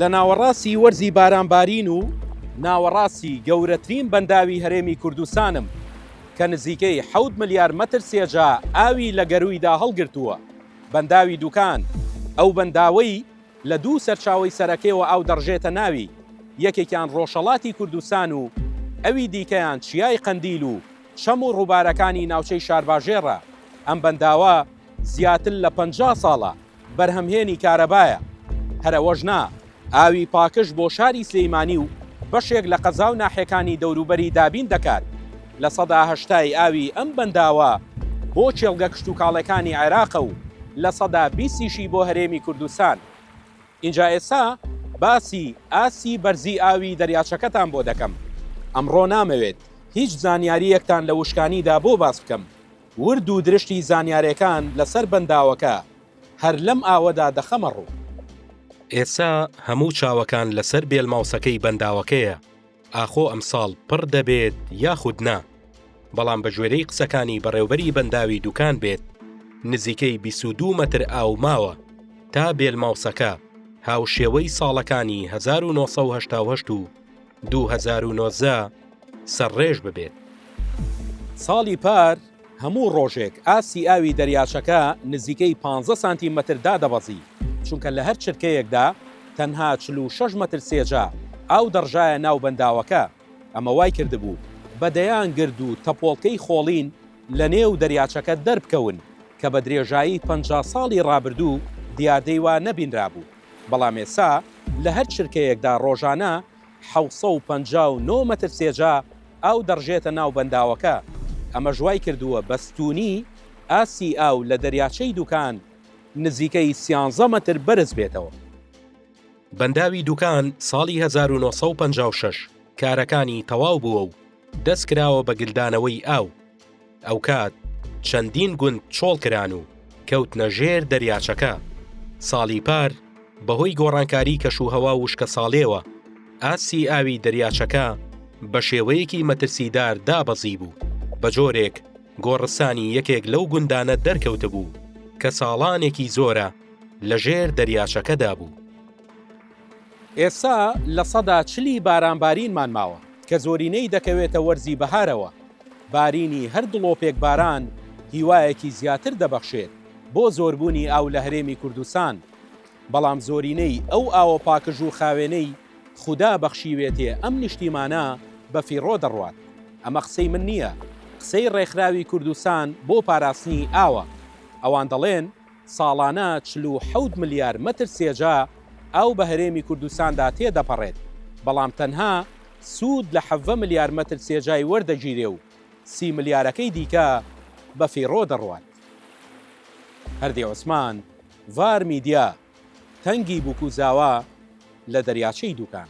لە ناوەڕاستی وەرزی بارانبارین و ناوەڕاستی گەورەترین بەنداوی هەرێمی کوردستانم کە نزیکەی حەوت ملیار مەتر سێجا ئاوی لە گەروویدا هەڵگرتووە، بەنداوی دوکان، ئەو بەنداوەی لە دوو سەرچاوەی سەرەکەیەوە ئاو دەڕژێتە ناوی، یەکێکیان ڕۆژهەڵاتی کوردستان و ئەوی دیکەیان چیای قەندیل و چەم و ڕووبارەکانی ناوچەی شارباژێڕە، ئەم بەنداوە زیاتر لە پەنجا ساڵە بەرهەمهێنی کارەبایە، هەر ئەوەش نا، ئاوی پاکژ بۆ شاری سلیمانی و بەشێک لە قەزا و ناحێکانی دەوروبەری دابین دەکات، لە سەدا هەشتای ئاوی ئەم بەنداوە بۆ کێڵگە کشتوکاڵێکانی عێراقە و لە سەدا بیستیشی بۆ هەرێمی کوردستان. ئینجا ئێستا باسی ئاستی بەرزی ئاوی دەریاچەکەتان بۆ دەکەم. ئەمڕۆ نامەوێت هیچ زانیارییەکتان لە وشکانیدا بۆ باس بکەم، ورد و درشتی زانیارێکان لەسەر بەنداوەکە هەر لەم ئاوەدا دەخەمە ڕوو. ئێستا هەموو چاوەکان لەسەر بێل ماوسەکەی بەنداوەکەیە، ئاخۆ ئەمساڵ پڕ دەبێت یاخود نا؟ بەڵام بەگوێرەی قسەکانی بەڕێوبەری بەنداوی دوکان بێت، نزیکەی بیست و دوو مەتر ئاو ماوە تا بێل ماوسەکە هاوشێوەی ساڵەکانی هەزار و نۆ سەد و هەشتا و هەشت و دوو هەزار و نۆزدە سەرڕێژ ببێت. ساڵی پار هەموو ڕۆژێک ئاستی ئاوی دەریاچەکە نزیکەی پانزە سانتی مەتر دادەبەزی، چونکە لە هەر چرکەیەکدا تەنها چل و شەش مەتر سێجا ئاو دەڕژایە ناو بەنداوەکە، ئەمە وای کردبوو بە دەیان گرد و تەپۆڵکەی خۆڵین لە نێو دەریاچەکە دەربکەون، کە بە درێژایی پەنجا ساڵی ڕابردوو دیاردەی وا نەبینرابوو، بەڵام ئێستا لە هەر چرکەیەکدا ڕۆژانە حەوت سەد و پەنجا و نۆ مەتر سێجا ئاو دەڕژێتە ناو بەنداوەکە، ئەمەش وایکردووە بەستوونی ئاستی ئاو لە دەریاچەی دوکان نزیکەی سیانزە مەتر بەرز بێتەوە. بەنداوی دوکان ساڵی هەزار و نۆ سەد و پەنجا و شەش کارەکانی تەواو بووە و دەستکراوە بە گلدانەوەی ئاو. ئەوکات چەندین گوند چۆڵ کران و کەوتنە ژێر دەریاچەکە. ساڵی پار بەهۆی گۆڕانکاری کەشوهەوا و وشکەساڵیەوە ئاستی ئاوی دەریاچەکە بە شێوەیەکی مەترسیدار دابەزیبوو، بە جۆرێک گۆڕستانی یەکێک لەو گوندانە دەرکەوتبوو کە ساڵانێکی زۆرە لەژێر دەریاچەکەدا بوو. ئێستا لە سەدا چلی باران بارینمان ماوە، کە زۆرینەی دەکەوێتە وەرزی بەهارەوە. بارینی هەر دڵۆپێک باران هیوایەکی زیاتر دەبەخشێت بۆ زۆربوونی ئاو لە هەرێمی کوردستان، بەڵام زۆرینەی ئەو ئاوە پاکژ و خاوێنەی خودا بەخشیوێتێ ئەم نیشتیمانە بە فیڕۆ دەڕوات. ئەمە قسەی من نییە، قسەی ڕێکخراوی کوردستان بۆ پاراستنی ئاوە. ئەوان دەڵێن. ساڵانە چل و حەوت ملیار مەتر سێجا ئاو بە هەرێمی کوردستاندا تێدەپەڕێت، بەڵام تەنها سوود لە حەڤە ملیار مەتر سێجای وەردەگیرێ و سی ملیارەکەی دیکە بەفیڕۆ دەڕوات. هەردی عوسمان، ڤار میدیا، تەنگی بووک و زاوا لە دەریاچەی دووکان.